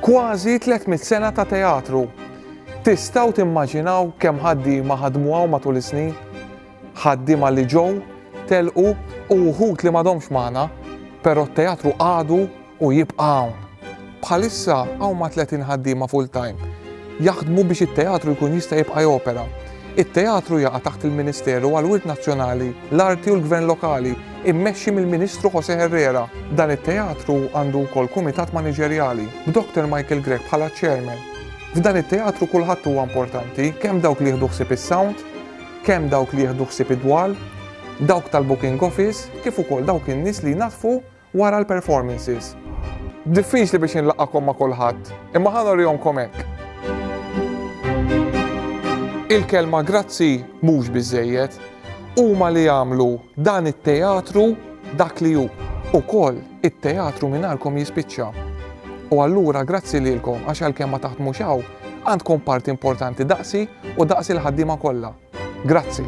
Kważi 300 sena ta' teatru. Tistgħu timmaġinaw kemm ħaddiema ħadmu hawn matul is-snin? ħaddiema li ġew, telqu u wħud li m'għadhomx magħna, però t-teatru għadu u jibqa' hawn. Bħalissa hawn ma' 30 ħaddiema full-time jaħdmu biex it-teatru jkun jista' jibqa' jopera. It-teatru jaqa' taħt il-Ministeru għall-Wirt Nazzjonali, l-Arti u l-Gvern Lokali, immexxi mill-Ministru Jose Herrera. Dan it-teatru għandu wkoll kumitat maniġerjali, b'Doktor Michael Grech bħala ċ-chairman. F'dan it-teatru kulħadd huwa importanti, kemm dawk li jieħdu ħsieb is-sound, kemm dawk li jieħdu ħsieb id-dwal, dawk tal-booking office kif ukoll dawk in-nies li jnaddfu wara l-performances. Diffiċli biex inlaqgħakom ma' kulħadd, imma ħa norihomkom hekk. Il-kelma grazzi mhux biżżejjed, huma li għamlu dan it-teatru dak li hu ukoll. It-teatru mingħajrkom jispiċċa. U allura grazzi lilkom għax għalkemm ma taħdmux hawn, għandkom parti importanti daqsi u daqs il-ħaddiema kollha. Grazzi.